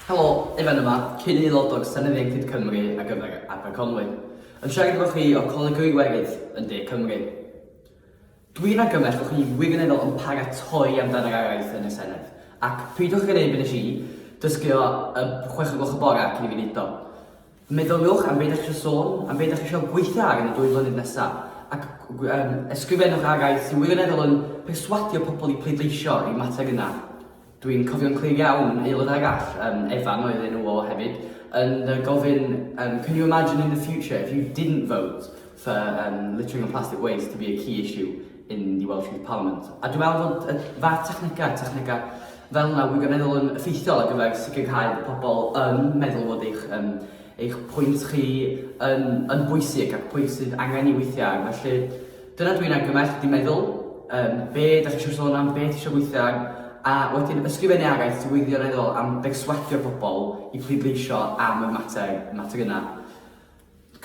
Helo, Ifan yma, cyn aelod o'r Senedd Ieuenctid Cymru ar gyfer Aberconwy, yn siarad efo chi o Coleg yr Iwerydd yn De Cymru. Dwi'n argymell bo chi wirioneddol yn paratoi amdan yr araith yn y Senedd, ac peidiwch ag yn neud be nes i, dysgu o y chwech o gloch y bore cyn i fi neud o. Meddyliwch am be dach chi eisiau sôn, am be dach chi eisiau gweithio ar yn y dwy flynedd nesaf, ac um, ysgrifennwch araith sy'n wirioneddol yn perswadio pobl i pleidleisio i'r mater yna. Dwi'n cofio'n clir iawn aelod arall, um, Evan oedd enw o hefyd, yn gofyn, um, can you imagine in the future if you didn't vote for um, littering and plastic waste to be a key issue yn The Welsh Youth Parliament. A dwi'n meddwl bod y fath technegau, technegau fel yna wirioneddol yn effeithiol ar gyfer sicrhau bod pobl yn meddwl bod eich, um, eich pwynt chi yn, yn bwysig ac pwy sydd angen i weithiau. Felly, dyna dwi'n argymell, di meddwl, um, be da chi eisiau sôn am, be ti eisiau weithio am, a wedyn ysgrifennu araith wirioneddol am berswadio pobl i pleidleisio am y mater, mater yna.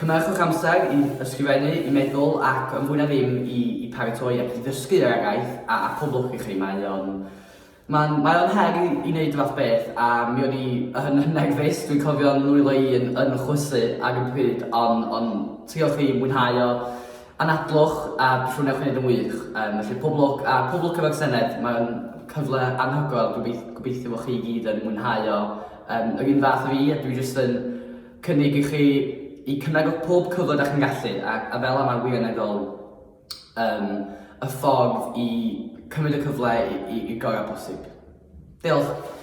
Cynhyrchwch amser i ysgrifennu, i meddwl ac, yn fwy na ddim, i i paratoi ac i ddysgu yr araith a a poblwch i chi. Mae o'n... Mae'n... Mae o'n her i i wneud y fath beth a mi o'n i yn yn nerfus, dwi'n cofio'n nwylo i yn yn chwysu ar y pryd ond ond triwch i mwynhau o, anadlwch a dwi siŵr wnewch chi wneud yn wych. Yym felly pob lwc a pob lwc efo'r Senedd, mae'n cyfle anhygoel, gobeith- gobeithio bo' chi i gyd yn mwynhau o yym yr un fath a fi a dwi jyst yn cynnig i chi i cymego pob cyfle da chi'n gallu a, a fel yma wirioneddol um, y ffordd i cymryd y cyfle i, i, i gorau posib. Diolch.